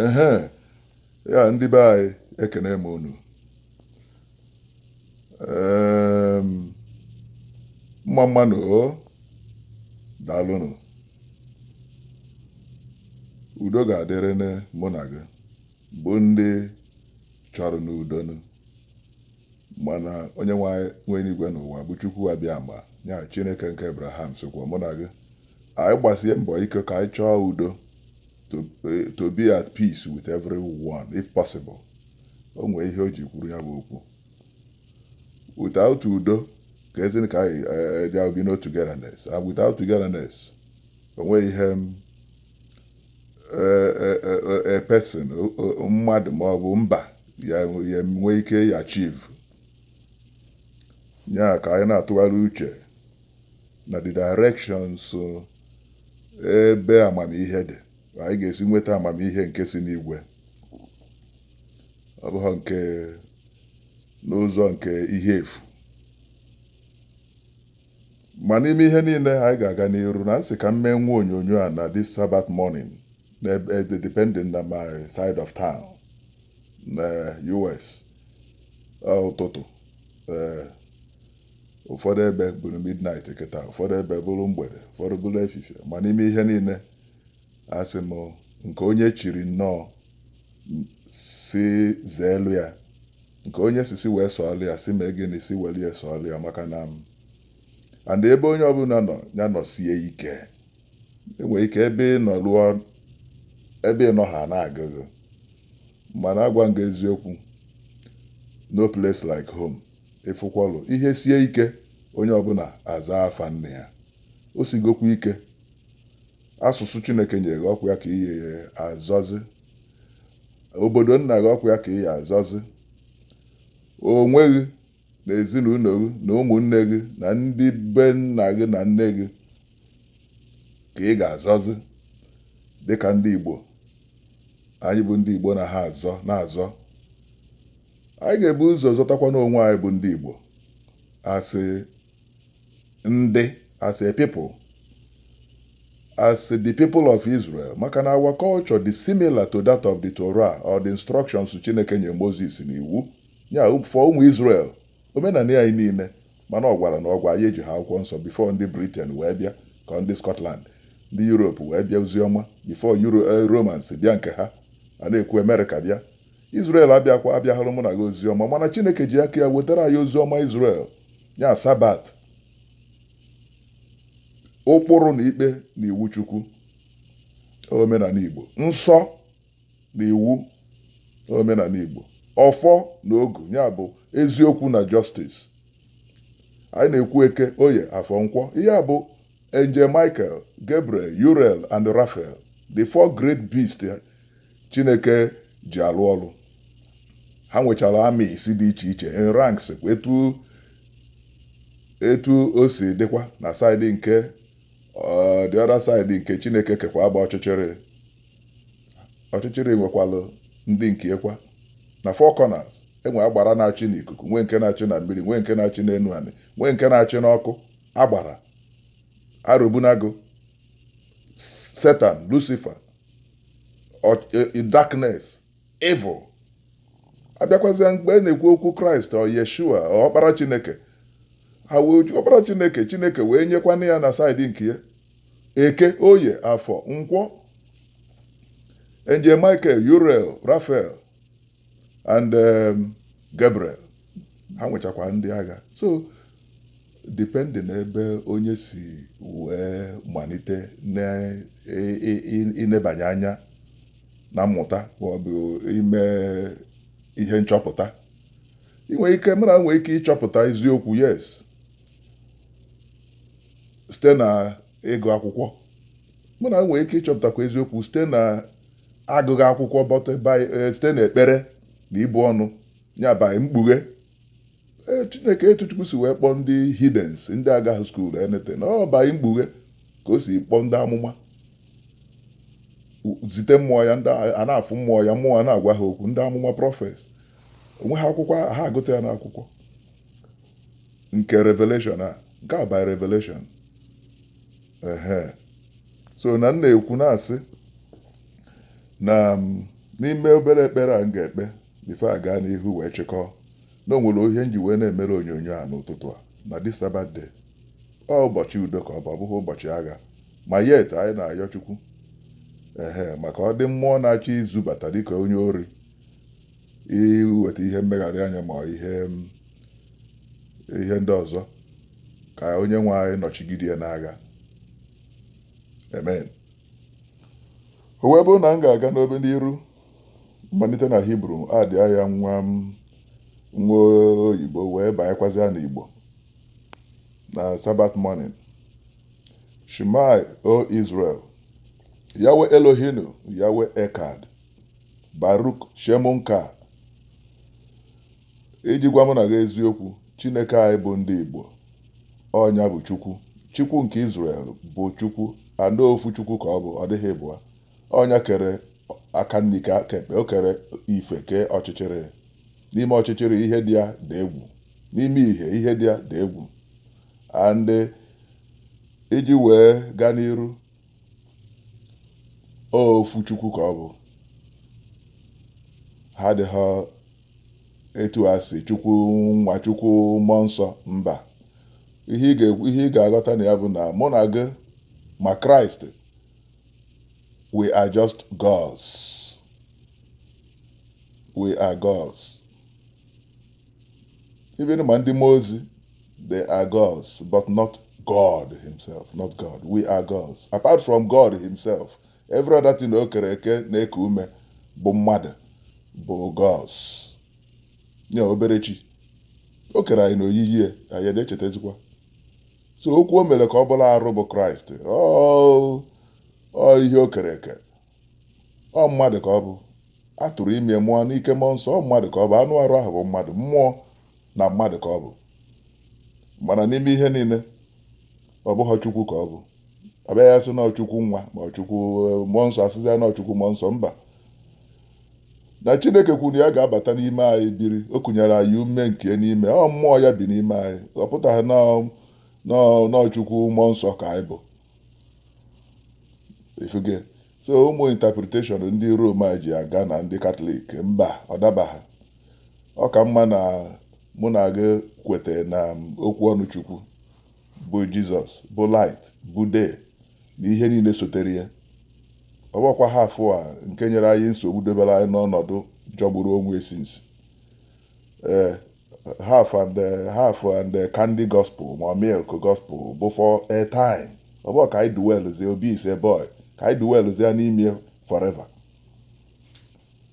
ehe ya ndị be anyị ekene m unu mma mma nụ o daalụnụ udo ga-adịrị mụ na gị bụ ndị chọrọnụ udo nụ mana onye nwe enuigwe na ụwa bụ Chukwu Abịama ya Chineke nke Abraham sokwa mụ na gị anyị gbasie mbọ ike ka anyị chọọ udo to, eh, to be at peace with everyone if possible o nwee ihe o ji kwuru ya bụ okwu without udo ka ezi ka anyị eh, eh, there will be no togetherness and without togetherness o nweghị ihe m a person mmadụ ma ọ bụ mba ya-enwe ike ị achieve ya ka anyị na-atụgharị uche na the directions uh, ebe amamihe dị anyị ga-esi nweta amamihe nke si n'igwe ọ bụghị nke n'ụzọ nke ihe efu ma n'ime ihe niile anyị ga-aga n'iru na m sị ka m mee nwa onyonyo a na this Sabbath morning eh depending na my side of town na US ụtụtụ ee ụfọdụ ebe bụrụ midnight kịta ụfọdụ ebe bụrụ mgbede ụfọdụ bụrụ efifie ma n'ime ihe niile asị m nke onye chiri nnọọ sị zeelu ya nke onye sị sị wee sọọlụ ya sị mee gịnị sị welụ ya sọọlụ ya maka na m and ebe onye ọbụla nọ ya nọsie ike e nwere ike ebe ị nọ lụọ ebe ị nọ ha na-aga gị mana agwa m gị eziokwu no place like home Ị fụkwalụ, ihe sie ike, onye ọbụla azaa afa nne ya. O sigokwa ike, asụsụ Chineke nyere gị ọkwa ya ka ị ya-azọzi. Obodo nna gị ọkwa ya ka ị ya-azọzi. Onwe gị na ezinụlọ gị na ụmụnne gị na ndị be nna gị na nne gị ka ị ga-azọzi dịka ndị Igbo anyị bụ ndị Igbo na ha azọ na-azọ Anyị ga-ebu ụzọ zọtakwanụ onwe anyị bụ ndị Igbo as ndị as a people as the people of Israel maka na our culture dị similar to that of the Torah or the instructions Chineke nye Moses n'iwu ya for ụmụ Israel omenala anyị niile mana ọ gwaranụ ọgwa anyị ejiha akwụkwọ nsọ before ndị Britain wee bịa ka ndị Scotland ndị Europe wee bịa oziọma before Euro eh, Romans bịa nke ha a na-ekwu America bịa Izrel abịakwa abịaghara mụ na gị ozi ọma mana Chineke ji aka ya wetara anyị ozi ọma Izrel ya sabat ụkpụrụ na ikpe na iwu Chukwu omenala Igbo nsọ na iwu omenala Igbo ọfọ na ogu ya bụ eziokwu na justice anyị na-ekwu eke oye afọ nkwọ ihe a bụ Angel Michael Gabriel Uriel and Raphael the four great beasts chineke ji alụ ọlụ ha nwechara armies dị iche iche in ranks kwa etu etu o si dịkwa na side nke ọ, the other side nke chineke kekwa bụ ọchịchịrị ọchịchịrị nwekwalụ ndị nke yakwa na four corners e nwee agbara na-achị n'ikuku nwee nke na-achị na mmiri nwee nke na-achị n'enu anị nwee nke na-achị n'ọkụ agbara arobunagu satan lucifer e, darkness evil a bịakwazịa mgbe a na-ekwu okwu kraịst or yeshua or ọkpara chineke ha wee jụ ọkpara chineke chineke wee nyekwana ya na side nke ya eke oye afọ nkwọ angel michael uriel raphael and um, Gabriel ha nwechakwa ndị agha so depending n'ebe onye si wee malite n'inebanye anya na mmụta maọbụ ime ihe nchọpụta inwe ike mmadụ nwee ike ịchọpụta eziokwu yes site na ịgụ akwụkwọ mmadụ nwee ike ịchọpụtakwa eziokwu site na agụghị akwụkwọ but e, site n'ekpere na ibu ọnụ ya by mkpughe e, chineke etu chukwu si wee kpọọ ndị heathens ndị agaghị school anything ọ by mkpughe ka o si kpọọ ndị amụma zite mmụọ ya ndị a na-afụ mmụọ ya mmụọ a na-agwa ha okwu ndị amụma prophets o nweghị akwụkwọ ha agụta ya n'akwụkwọ nke revelation a nke a by revelation ehe so na m na-ekwu na-asị na n'ime obere ekpere a m ga-ekpe before a gaa n'ihu wee chịkọọ na o nwere ihe m ji wee na-emere onyonyo a n'ụtụtụ a na the sabat day ọ ụbọchị udo ka ọ bụ ọ bụghị ụbọchị agha ma yet anyị na-ayọ chukwu ehe maka ọ dị mmụọ na-achọ izubata dịka onye ori iweta ihe mmegharị anya ma ihe ihe ndị ọzọ ka onye nwe anyị nọchigide ya n'agha amen o wee bụrụ na m ga-aga n'obe n'iru m malite na hibru adị ya nwa oyibo wee banyekwazịa n'igbo na sabat morning shema o israel yahweh eloheinu yahweh echad Baruk Shem nka iji gwa mụ na gị eziokwu Chineke anyị bụ ndị Igbo ọ nya bụ Chukwu Chukwu nke Izrel bụ Chukwu and ofu Chukwu ka ọ bụ ọ dịghị ịbụa ọ nya kere aka nri kee aka ekpe o kere ife kee ọchịchịrị n'ime ọchịchịrị ihe dị ya dị egwu n'ime ihe ihe dị ya dị egwu and iji wee gaa n'iru ọ ofu chukwu ka ọ bụ ha adịghị etọ a sị chukwu nwa chukwu mmụọ nsọ mba ihe ị ga-aghọta na ya bụ na mụ na gị ma kraịst we are just gods we are gods even ma ndị mmụọ ozi they are gods but not God himself not God we are gods apart from God himself every other thing o kere eke na-eku ume bụ mmadụ bụ gods nye obere chi o kere anyị na oyiyi ya anyị na-echetazikwa so okwu o mere ka ọ bụrụ arụ bụ kraịst ọ ihe o kere eke ọ mmadụ ka ọ bụ a tụrụ ime mụọ n'ike mmụọ nsọ ọ mmadụ ka ọ bụ anụ arụ ahụ bụ mmadụ mmụọ na mmadụ ka ọ bụ mana n'ime ihe niile ọ bụghị chukwu ka ọ bụ a bịa asị na ọ chukwu nwa ma ọ chukwu eh, mmụọ nsọ asịzi ya na ọ chukwu mmụọ nsọ mba na chineke kwuru ya ga-abata n'ime anyị biri o kụnyere anyị ume nke n'ime ọ mmụọ ya bi n'ime anyị ọ pụtaghị na- na- na ọ chukwu mmụọ nsọ ka anyị bụ ị fụgo so ụmụ interpretation ndị Rom a ji aga na ndị Katọlik mba ọ dabaghị ọ ka mma na mụ na gị kweta na okwu ọnụ Chukwu bụ Jizọs bụ light bụ day na ihe niile sotere ya ọ bụkwa half a nke nyere anyị nsogbu debere anyị n'ọnọdụ jọgburu onwe ya since ee half and eh, half and eh, candy gospel ma milk gospel bụ for a time ọ bụghị ka anyị dwellzie Obi is a boy ka anyị dwellzie n'ime ya forever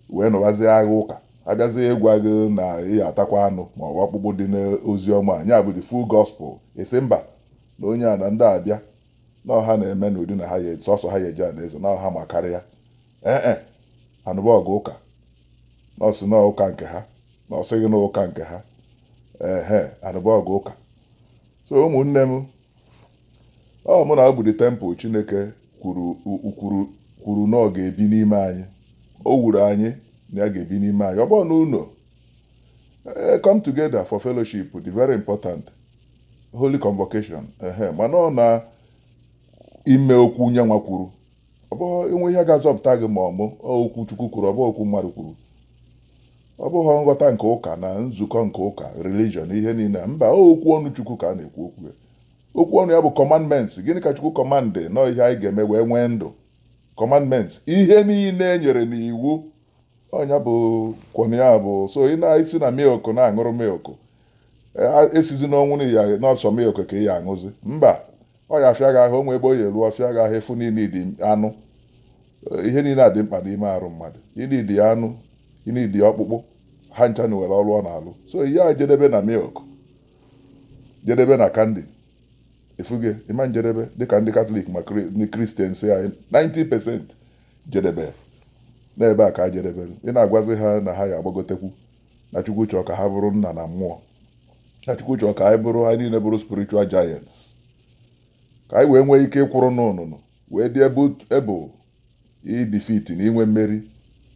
wee nụbazie agha ụka a bịazie ịgwa gị na ị ya-atakwa anụ ma ọ bụ ọkpụkpụ dị n'ozi ọma nya bụ the full gospel ị sị mba na onye a na ndị abịa na ọ ha na-eme n'ụdị na ha ya sọsọ ha ya-eje anaeze na ọ ha makarịa ee e a nụba ọgụ ụka na o si na ụka nke ha na o sighị na ụka nke ha ehe a nụba ọgụ ụka so ụmụnne m ọ mụ na gị bụ the temple chineke kwuru na ọ ga-ebi n'ime anyị o wuru anyị na ya ga-ebi n'ime anyị ọ bụrọ na ụlọ come together for fellowship dị very important holy convocation ehe mana ọ n'ime okwu nye nwa kwuru ọ bụghị inwe ihe ga-azọpụta gị ma ọ bụ okwu chukwu kwuru ọ bụghị okwu mmadụ kwuru ọ bụghị nghọta nke ụka na nzukọ nke ụka religion ihe niile mba okwu ọnụ chukwu ka a na-ekwu okwu ya okwu ọnụ ya bụ commandments gịnị ka chukwu command na ọ ihe anyị ga-eme wee nwee ndụ commandments ihe niile e nyere n'iwu ọ nya bụ okwu ọnụ ya bụ so ị na-esi na milk na-aṅụrụ milk ị sịzi n'ọnwụ na ya na ọ sọ milk ka ị ya aṅụzi mba ọ ya afịa gị ahụ o nwe ebe ọ ya elu ọ fịa gị ahụ ị fụ na ị need anụ ihe niile a dị mkpa n'ime arụ mmadụ ị need anụ ị need ọkpụkpụ ha ncha nwere ọlụ ọ na-alụ so ị ya ejedebe na milk jedebe na candy efuge ịma njedebe dịka ndị katọlik ma ndị kristian si anyị 90 percent jedebe n'ebe a ka ha jedebere ị na-agwazi ha na ha ya agbagotekwu na chukwu chọọ ka ha bụrụ nna na mmụọ na chukwu chọọ ka anyị bụrụ anyị niile bụrụ spiritual giants ka anyị wee nwee ike ịkwụrụ n'ụnụnụ wee dị able idefeat na inwe mmeri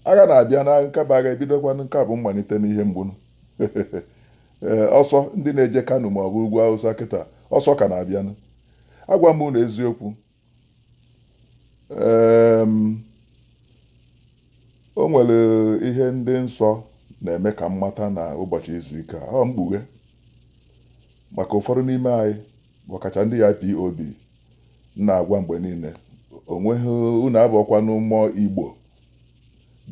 agha na-abịa na nka bụ agha ebidokwa nka bụ mmalite n'ihe mgbu nụ ee ọsọ ndị na-eje kano ma ọ bụ ugwu awụsa kịta ọsọ ka na-abịanụ agwa m unu eziokwu ee o nwere ihe ndị nsọ na-eme ka m mata na ụbọchị izu ike a ọ mkpughe maka ụfọdụ n'ime anyị ọkacha ndị ipob m na-agwa mgbe niile o nweghị unu abụọkwanụ more igbo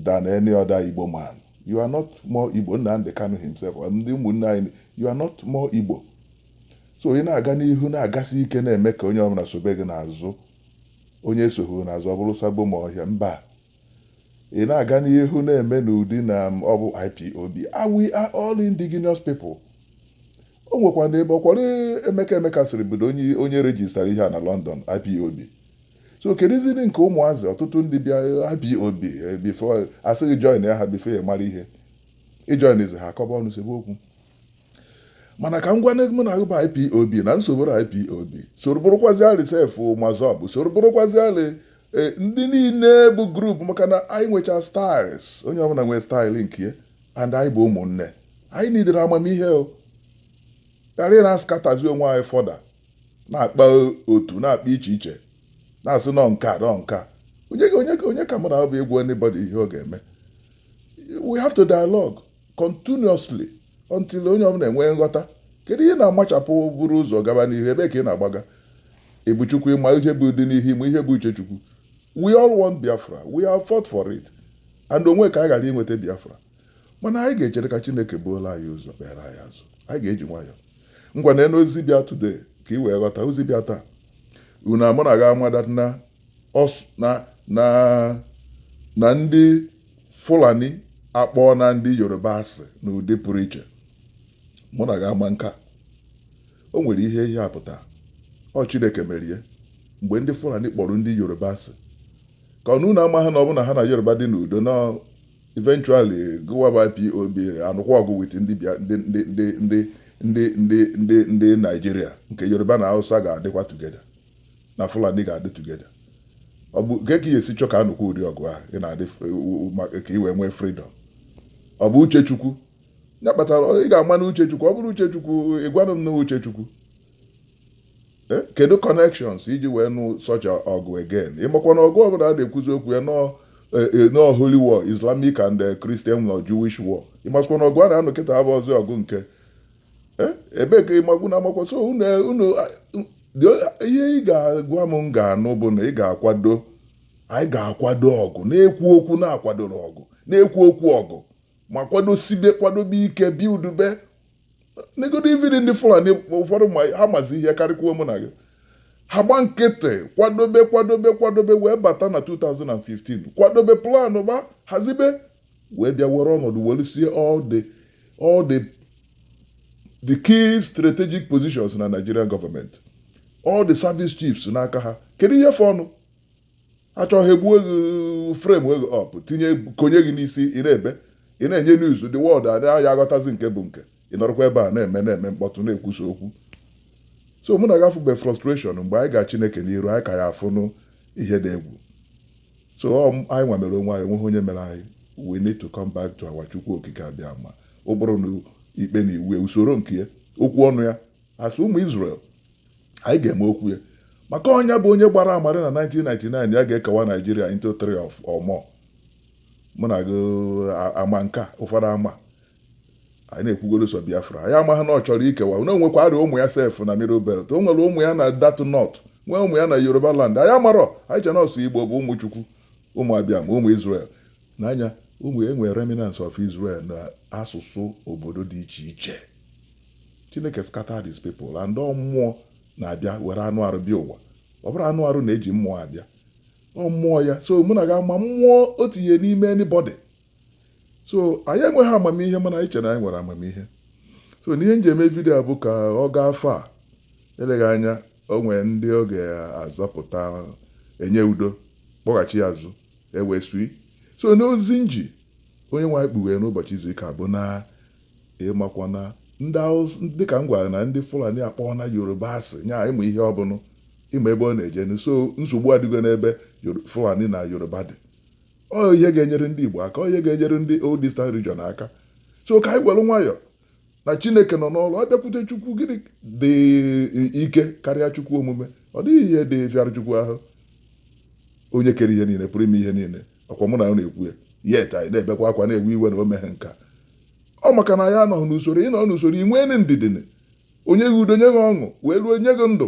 than any other igbo man you are not more igbo nnamdị kanu himself ndị ụmụnne anyị you are not more igbo so ị na-aga n'ihu na-agasi ike na-eme ka onye ọbụla sobe gị n'azụ onye esoghị n'azụ ọ bụrụ sabo ma ọhịa mba Ị na-aga n'ihu na-eme n'ụdị na ọ bụ IPOB. Ah, we are all indigenous people. O nwekwa na ebe ọkwọrị Emeka Emekesiri bido onye onye rejistara ihe a na London IPOB. So kedụziri nke ụmụazị ọtụtụ ndị bịa IPOB eh, before asịghị join ya ha before ị mara ihe. Ị joinzi ha akọba ọnụ sebe okwu. mana ka m gwa unu mụ na abụ ipob na-eso bụrụ ipob soro bụrụkwazi alị sef massob soro bụrụkwazi alị e, ndị niile bụ group maka na anyị nwecha styles onye ọbụla nwee style nke ya and anyị bụ ụmụnne anyị nidere amamihe o ghara ị na-ascatterzi onwe anyị further na-akpa otu na-akpa iche iche na-asị na ọ nka na ọ nka onye ka mụ bụ ịgwa anybody ihe ọ ga-eme we have to dialogue continuously until onye ọbụla enwee nghọta kedu ihe na-amachapụ buru ụzọ gaba n'ihu ebee ka ị na-agbaga ị bụ chukwu ị ma ihe bụ dị n'ihu ị ma ihe bụ uche chukwu we all want biafra we have fought for it and o nwe ka anyị ghara inweta biafra mana anyị ga-echere ka chineke buolu anyị ụzọ kpere anyị azụ anyị ga-eji nwayọọ ngwa na-anụ ozi bịa today ka ị wee ghọta ozi bịa taa unu mụ na gị ama that na na ndị Fulani akpọọna ndị Yoruba asị n'ụdị pụrụ iche mụ na gị ama nke a o nwere ihe ihe a pụtara ọ Chineke mere ya mgbe ndị Fulani kpọrọ ndị Yoruba asị ka unu na amaha na ọ bụ na ha na Yoruba dị n'udo na eventually gụwa bụ IPOB anụkwa ọgụ with ndị ndị ndị ndị ndị Nigeria nke Yoruba na Hausa ga-adịkwa together na Fulani ga-adị together ọ bụ ka e si chọ ka a nụkwa ụdị ọgụ ahụ ị na-adị ka ị wee nwee freedom ọ bụ uche chukwu ya kpatara ị ga-ama na uche chukwu ọ bụrụ uche chukwu ị gwanụ m na uche chukwu eh, kedu connections ị ji wee nụ such ọgụ again ị makwa na ọgụ ọbụla a na-ekwuzi okwu ya na ọ eh, eh, holy war islamic and christian or jewish war ị makwa na ọgụ a na-anụ kịta abụrọzị ọgụ nke ebee ka ịmagbu na amakwa so unu ihe ị ga-agwa m m ga-anụ bụ na ị ga-akwado anyị ga-akwado ọgụ na-ekwu okwu na-akwadoro ọgụ na-ekwu okwu ọgụ ma kwadosibe kwadobe ike bi udube negodu ividi ndị fulani ụfọdụ ma ha mazi ihe karịkwuo mụ na gị ha gba nkịtị kwadobe kwadobe kwadobe wee bata na 2015 kwadobe planụba hazibe wee bịa were ọnọdụ welusie all the all the the key strategic positions na Nigerian government all the service chiefs n'aka ha kedu ihe fọnụ achọghị igbu gị frame you up tinye konye gị n'isi ị na-ebe ị na-enye news the world adịghị aghọtazi nke bụ nke ị nọrọkwa ebe a na-eme na-eme mkpọtụ na-ekwusa okwu so mụ na gị afụbe frustration mgbe anyị ga Chineke n'iru anyị ga-afụnụ ihe dị egwu so ọ m- anyị nwa mere onwe anyị o nweghị onye mere anyị we need to come back to our chukwu okike abịama ụkpụrụ na ikpe na iwu ya, usoro nke ya okwu ọnụ ya as ụmụ Israel anyị ga-eme okwu ya maka ọ nya bụ onye gbara ama eri na 1999 ya ga-ekewa Nigeria into three or more mụ na gị a- ama nke a, ụfọdụ ama anyị na-ekwugoro so biafra anyị amaghị na ọ chọrọ ikewa na o nwekwarị ụmụ ya sef na middle belt o nwere ụmụ ya na that north nwee ụmụ ya na yoruba land anyị amarọ anyị che na ọ sọ igbo bụ ụmụ chukwu ụmụ abịama ụmụ israel n'anya ụmụ e nwe remnants of israel na asụsụ obodo dị iche iche chineke scatter these people and ọ mmụọ na-abịa were anụ arụ bịa ụwa ọ bụrọ anụ arụ na-eji mmụọ abịa ọ mmụọ ya so mụ na gị ama mmụọ o tinye n'ime anybody so anyị enweghị amamihe mana anyị chere na anyị nwere amamihe so n'ihe m ji eme vidio a bụ ka ọ gaa afọ a eleghị anya o nwee ndị ọ ga-azọpụta enye udo kpọghachi ya azụ ewee sui so n'ozi nji onye nwe anyị kpughere n'ụbọchị izu ike bụ na ịmakwa na dịka m gwara na ndị Fulani akpọọna Yoruba asị nya ịmụ ihe ọbụla ịma ebe ọ na-eje so nsogbu adịgo n'ebe Fulani na Yoruba dị ọ ihe ga-enyere ndị Igbo aka ọ ihe ga-enyere ndị old eastern region aka so ka anyị were nwayọ na Chineke nọ n'ọrụ a bịakwute Chukwu gịnị dị ike karịa Chukwu omume ọ dịghị ihe dị fịara Chukwu ahụ onye kere ihe niile pụrụ ime ihe niile ọkwa mụ na gị na-ekwu ya yet anyị na-ebekwa akwa na-ewe iwe na o meghị nke a ọ maka na anyị anọghị n'usoro ị nọ n'usoro ị nwee ndidi o nye gị udo nye gị ọṅụ wee ruo nye gị ndụ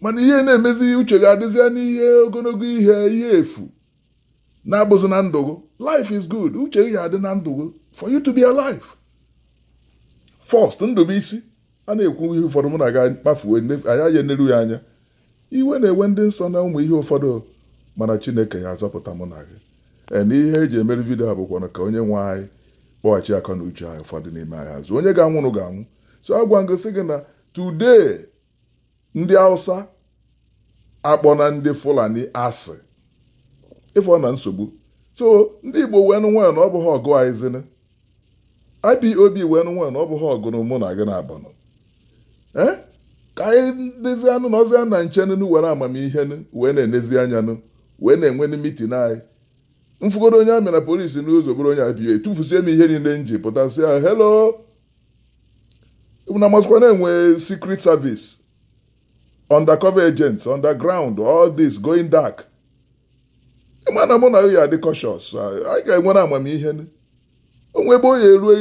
mana ihe na-emezi uche gị adịzịa n'ihe ogologo ihe ihe efu na-abụzi na ndụ gị life is good uche gị adị na ndụ gị for you to be alive first ndụ bụ isi a na-ekwu ihe ụfọdụ mụ na gị akpafuo anyị ya eneru ya anya iwe na-ewe ndị nsọ na ụmụ ihe ụfọdụ mana chineke ya-azọpụta mụ na gị ee na ihe e ji emere vidio a bụkwana ka onye nwe anyị kpọghachi akọ na uche anyị ụfọdụ n'ime anyị azụ onye ga-anụrụ ga-anụ so agwa m gị sị gị na today ndị Hausa akpọọna ndị Fulani asị ị fụna nsogbu so ndị Igbo weenụ nwayọ na ọ bụghị ọgụ anyị zinụ IPOB weenụ nwayọ na ọ bụghị ọgụ mụ na gị na-abanụ ee ka anyị dịzịanụ nọzịa na nchenụ were amamihe wee na-enezi anya nụ wee na-enwe nụ mitin anyị m fụgodu onye amị na polisi n'ụzọ bụrụ onye IPOB tụfusie m ihe niile m ji pụta sị ya hello unu amasịkwa na e nwe secret service undercover agents underground all this going dark ị ma na mụ na gị ya-adị cautious anyị ga-ewere amamihe o nwe ebe ọ ya-eruo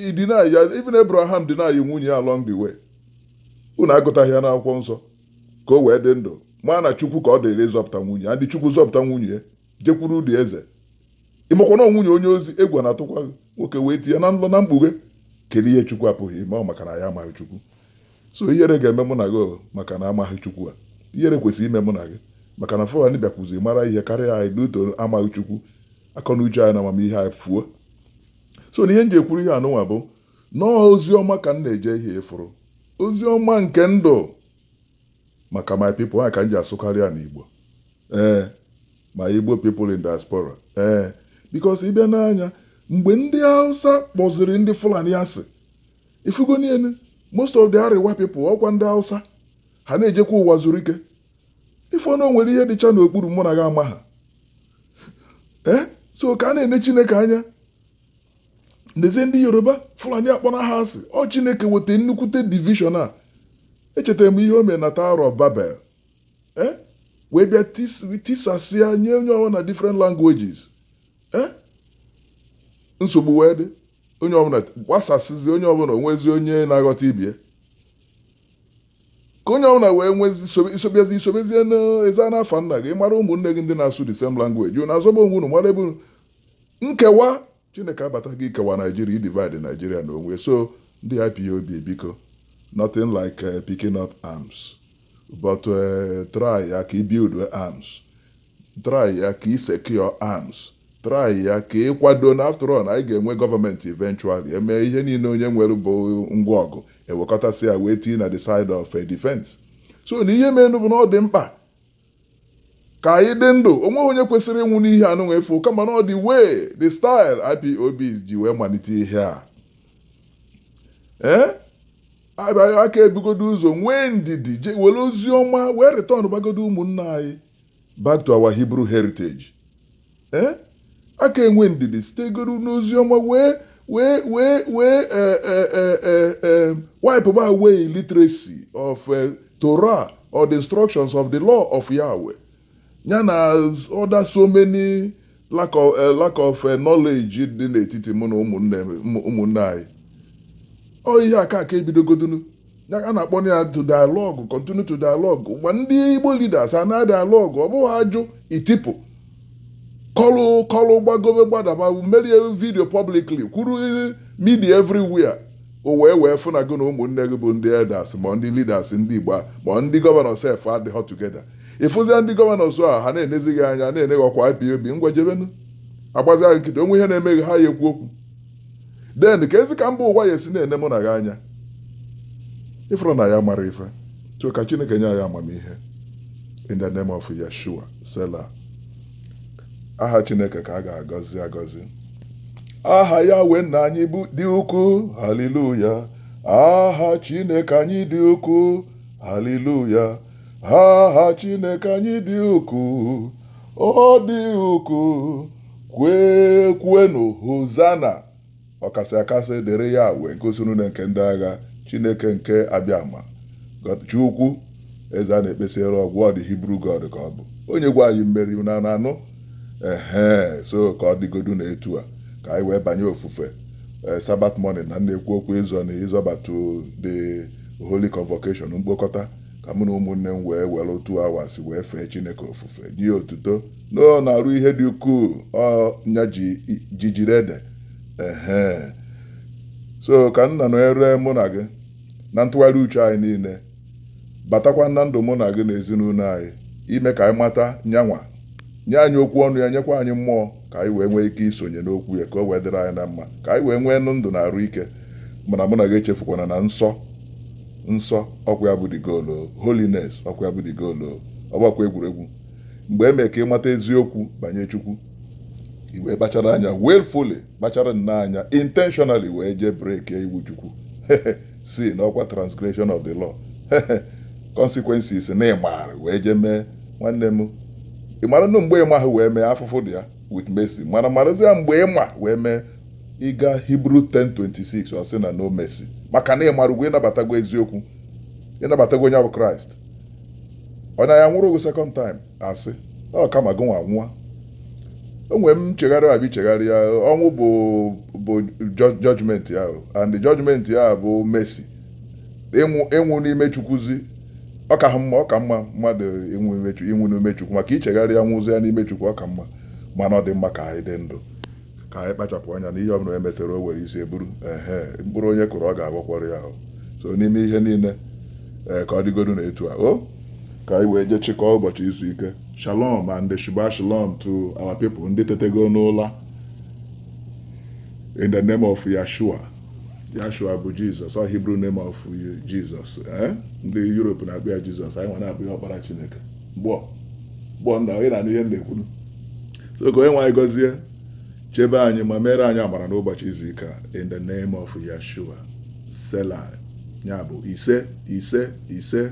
ị deny ya even Abraham deny nwunye ya along the way unu agụtaghị ya n'akwụkwọ nsọ ka o wee dị ndụ mana Chukwu ka ọ dịrị ịzọpụta nwunye ya and Chukwu zọpụta nwunye ya jekwuru ụdị eze ị makwa na ọ nwunye onye ọzọ egwu na-atụkwa gị nwoke wee tinye na nlọ na mkpughe kedu ihe chukwu apụghị ime ọ maka na anyị amaghị chukwu so ihere ga-eme mụ na gị o, maka na anyị amaghị chukwu a ihere kwesịrị ime mụ na gị maka na fulani bịakwuzi mara ihe karịa anyị due to amaghị chukwu akọ na uche anyị na amamihe anyị fuo so na ihe m ji ekwuru ihe anụnwa bụ na ọ ozi ọma ka m na-eje ihe ị fụrụ ozi ọma nke ndụ maka my people ya ka m ji asụkarị ya n'igbo ee ma Igbo people in diaspora ee eh, because ị bịa nee anya mgbe ndị Hausa kpọziri ndị Fulani asị ị fụgo niile most of the Arewa people ọkwa ndị Hausa ha na-ejekwa ụwa zuru ike ị fụ na o nwere ihe dịcha n'okpuru mụ na gị ama ha ee eh, so ka a na-ene Chineke anya nezi ndị Yoruba Fulani akpọna ha asị ọ Chineke weta nnukwute division a echetara m ihe o mere na Tower of Babel eh? wee bịa tisasịa nye onye ọbụla na different languages eh? nsogbu wee dị onye ọbụla gbasasịzi onye ọbụla o nwezi onye na-aghọta ibe ya ka onye ọbụla wee nwezi isobezi isobezie n'ezi n'afa nna gị mara ụmụnne gị ndị na-asụ the same language unu azọba onwe unu mara ebe nkewa Chineke abatago ikewa Nigeria, idivide Nigeria n'onwe ya so ndị IPOB biko nothing like eh, picking up arms but eh, try ya ka i build arms try ya ka i secure arms try ya ka ị kwado na after all anyị ga-enwe government eventually e mee ihe niile onye nwere bụ ngwa ọgụ e wekọtasịa wee tii na the side of eh, defense so na ihe menụ bụ na ọ dị mkpa ka anyị dị ndụ onweghị onye kwesịrị ịnwụ n'ihe a nụnwa efu kama na ọ the way the style IPOB ji wee malite ihe a ee abịaghị a ka-ebugodo ụzọ nwee ndidi je were ozi ọma wee returnbagodo ụmụnna anyị back to our Hebrew heritage ee a ka-enwe ndidi sitegodu n'ozi ọma wee wee wee wee eh, eh, eh, eh, eh, wipeba away illiteracy of eh, Torah or the instructions of the law of Yahweh ya na other so many lack of, eh, lack of eh, knowledge dị n'etiti mụ na ụmụnne m- ụmụnne anyị ọ ihe a ka a ka-ebidogodunu ya a na-akpọ na ya to dialogue continue to dialogue ma ndị igbo leaders a na dialogue ọ bụghị ajụ itipụ kọlụ kọlụ gbagobe gbadaba mere video publicly kwuru media everywhere o wee wee fụ na gị na ụmụnne gị bụ ndị elders ma ndị leaders ndị igbo a ma ndị governor sef adịghọ together ị fụzia ndị governors a ha na-enezi gị anya na-ene gị ọkwa ipob ngwa jebenu agbazi gị nkịtị o nwee ihe na-eme gị ha ya-ekwu okwu then keezi ka mba ụwa ya-esi na-ene mụ na gị anya ị fụrụ na anyị amarọ ife so ka chineke nye anyị amamihe in the name of yeshua selah aha chineke ka a ga-agọzi agọzi aha yahweh nna anyị dị ukwuu haleluya aha chineke anyị dị ukwuu haleluya aha chineke anyị dị ukwuu ọ dị ukwuu kwee kwuenu hozana ọkasị akasị dịrị yahweh nke ụsụ niile nke ndị agha chineke nke abịama chi ukwu eze a na-ekpesịrị ọ gwụ the hebrew god ka ọ bụ onye gwa anyị mmeri na anụ ehe so ka ọ dịgodu na etu a ka anyị wee banye ofufe eh, sabbath morning na na-ekwu okwu ịzọ na ịzọbatu the holy convocation mkpokọta ka mụ na ụmụnne m wee were two hours wee fee chineke ofufe nye otuto na ọ na-arụ ihe dị ukwuu ọ nya ji ji jiri ede ehe so ka nna nọnyere mụ na gị na ntụgharị uche anyị niile batakwa na ndụ mụ na gị na ezinụlọ anyị ime ka anyị mata nya nwa nye anyị okwu ọnụ ya nyekwa anyị mmụọ ka anyị wee nwee ike isonye n'okwu ya ka o wee dịrị anyị na mma ka anyị wee nwee nụ ndụ na arụ ike mana mụ na gị echefukwana na nsọ nsọ ọkwa ya bụ the goal o. holiness ọkwa ya bụ the goal o. ọ bụhakwa egwuregwu mgbe e mere ka ị mata eziokwu banye Chukwu i wee kpachara anya willfully kpachara nnọọ anya intentionally wee jee break iwu Chukwu sin ọkwa transgression of the law consequences na ị mara wee jee mee nwanne m ị mara nụ mgbe ị maha wee mee afụfụ dị ya with mercy mana marazie mgbe ị ma wee mee ị gaa Hebrew 10:26 ọ sị na no mercy maka na ị marago ị nabatago eziokwu ị nabatago onye bụ Kraịst ọ naha anwụrụ gị second time asị ọ kama gị nwa nwụọ o nwere nchegharị ebe i chegharịa ọnwụ bụ bụ judgment ya and judgment ya bụ mercy ịnwụ ịnwụ n'ime chukwuzi ọ ka mma ọ ka mma mmadụ ịnwụ imechu ịnwụ n'ime chukwu maka i chegharịa nwụzia n'ime chukwu ọ ka mma mana ọ dị mma ka anyị dị ndụ ka anyị kpachapụ anya na ihe ọbụla e metere o were isi e buru ehe mkpụrụ onye kụrụ ọ ga-aghọkwara ya ahụ so n'ime ihe niile ee ka ọ dịgodu na etu a o ka anyị wee jee chịkọọ ụbọchị izu ike shalom and shabbat shalom to our people ndị tetego n'ụla in the name of yashua yashua bụ jizọs ọ hebrew name of jizọs ee ndị europe na-akpọ ya jizọs anyị nwa na-akpọ ya ọkpara chineke gbọ gbọ nna onye na-anụ ihe m na-ekwu nụ so ka onye nwe anyị gọzie chebe anyị ma mere anyị amara n'ụbọchị izu ike a in the name of Yeshua Selah ya bụ ise ise ise